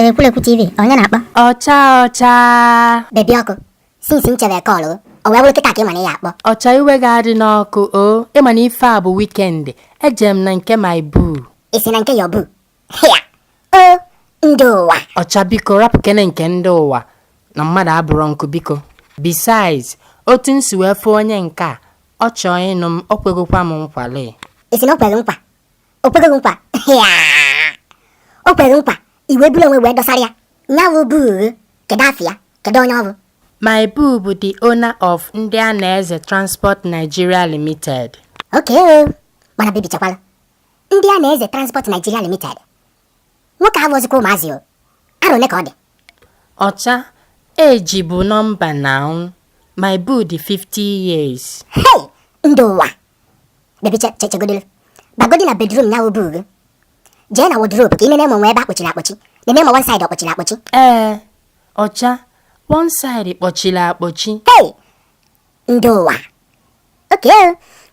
Ekwulekwu TV onye na-akpọ ọcha ọcha bebi ọkụ since m chere kọlụ o wee bụrụ kịta ka ị ma na ị ya-akpọ ọcha iwe gị adịna ọkụ o ị ma na ife a bụ wikendi eje m na nke my boo ị sị na nke your boo hịa o ndị ụwa ọcha biko rapụkene nke ndị ụwa na mmadụ abụrọ nkụ biko besides otu m si wee fụ onye nke a ọ chọọ ịnụ m o kwegokwa m nkwa lee ị sị na o kwere nkwa o kwego nkwa hịa o kwere nkwa i wee buru onwe wee dọsara ya nya bụ boo kedu afọ ya kedu onye ọ bụ my boo bụ the owner of ndị a na-eze transport nigeria limited oke mana bebi chekwala ndị a na-eze Transport Nigeria Limited nwoke a abụzịkwa ụmụazị o arọ one ka ọ dị ọcha age bụ nọmba now my boo dị 50 years hei ndị ụwa bebi chegodolu bagodi na bedrum ya wụ boo gị jee na wodrobu ka ị nene ma e nwe ebe a kpọchiri akpọchi nene ma one side ọ kpọchiri akpọchi ee ọcha one side kpọchiri akpọchi hei ndị ụwa oke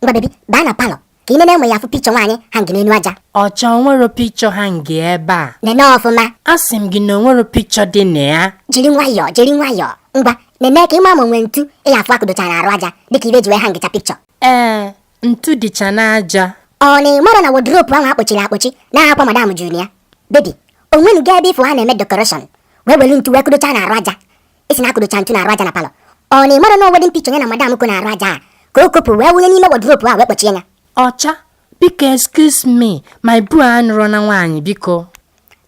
ngwa bebi baa na palọ ka ị nene ma ị ya-afụ pikchọ nwaanyị hangị n'elu aja ọcha o nwerọ pikchọ hangị ebe a nene ọfụma asị m gị na o nwerọ pikchọ dị na ya jiri nwayọọ jiri nwayọọ ngwa nene ka ị maa ma o nwe ntu ị ya-afụ a kụdocha n'arụ aja dịka ife e ji wee hangịcha pikchọ ee ntu dịcha n'aja ọ na ị marọ na wodropu ahụ a kpọchiri akpọchi na akwa madam juru ya bebi o nwenuga ebe ị fụ ha na-eme dekoreshọn wee welu ntu wee kụdocha n'arụ aja ị sị na a kụdocha ntu n'arụ aja na palọ ọ na ị marọ na wedin pikchọ ya na madam ko n'arụ aja a ka o kopụ wee wụnye n'ime wọdropu a wee kpọchie ya ọcha biko excuse me my boo anụrọna nwaanyị biko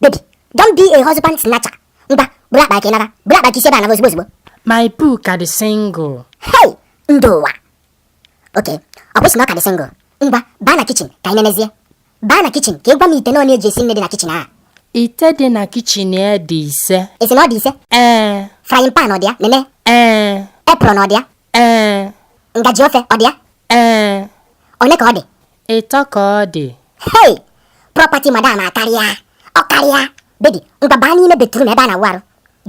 bebi don't be a husband snatcher ngwa buru akpa ka ị naba buru akpa ka i si ebe a naba ozugbo ozugbo my boo ka dị single hei ndị ụwa oke o kwu sị na ọ ka dị single ngwa baa na kichin ka anyị nenezie baa na kichin ka ị gwa m ite one e ji esi nni dị na kichin a ite dị na kichin ya dị ise ị sị na ọ dị ise ee frying pan ọ dị ya nene ee apron ọ dị ya ee ngaji ofe ọ dị ya ee one ka ọ dị ịtọ ka ọ dị hei property madam akarịa ọ karịa Bebi, ngwa baa n'ime batrum ebe a na-awụ arụ.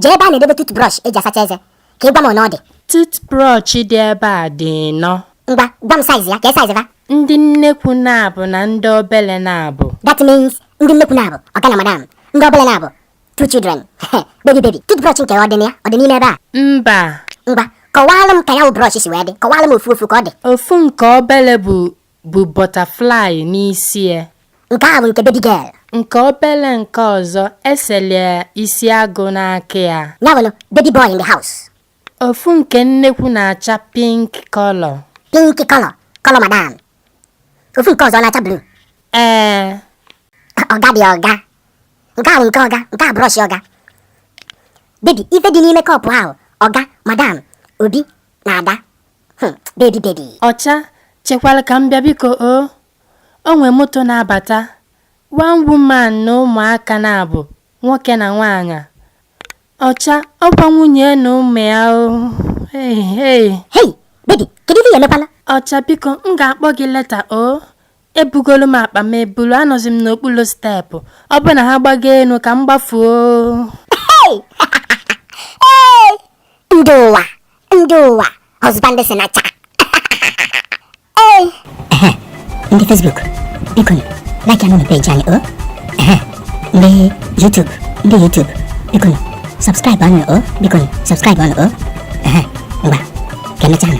Jee ebe a na-edebe tutbrọsh e ji asacha eze ka ị gwa m one ọ dị. Tutbrọsh dị ebe a dị ịnọ. Ngwa, gwa m saiz ya, kee saiz va? Ndị nnekwu naabọ na ndị obele naabọ. That means ndị nnekwu naabọ, ọga na madam, ndị obele naabọ, two children. Bebi bebi, tutbrọsh nke ọ dị na ya, ọ dị n'ime ebe a? Mba. Ngwa, kọwaalụ m ka ya wụ brọsh si wee dị, kọwaalụ m ofu ofu ka ọ dị. Ofu nke obele bụ bụ butterfly n'isi ya. Nke a bụ nke baby girl. Nke obele nke ọzọ esele isi agụ n'aka ya. Ya bụrụ baby boy in the house. Ofu nke nnekwu na-acha pink color. Pink color, color madam. Ofu nke ọzọ na-acha blue. Ee. Ọga dị ọga. Nke a bụ nke ọga, nke a brush ọga. Baby, ife dị n'ime kọpụ ahụ, ọga, madam, Obi na Ada. Hmm, baby baby. Ọcha chekwara ka m bịa biko o. O nwe moto na-abata. One woman na ụmụaka naabọ, nwoke na nwaanyị. Ọcha ọkwa nwunye na ụmụ ya o. Hey, hey. Hey, baby, kedu ife ya emekwala? Ọcha biko m ga-akpọ gị later o. Ebugolu m akpa m ebulu anọzi m n'okpuru steepụ. Ọ bụrụ na ha gbago enu ka m gbafuo. Hey! hey! Ndị ụwa! Ndị ụwa, husband snatcher. Ee. Ehe, ndị Facebook, biko nụ, like anụ na page anyị o. Ehe, ndị YouTube, ndị YouTube, biko nụ, subscribe anụ o, biko nụ, subscribe anụ o. Ehe, ngwa, ka emechaa nụ.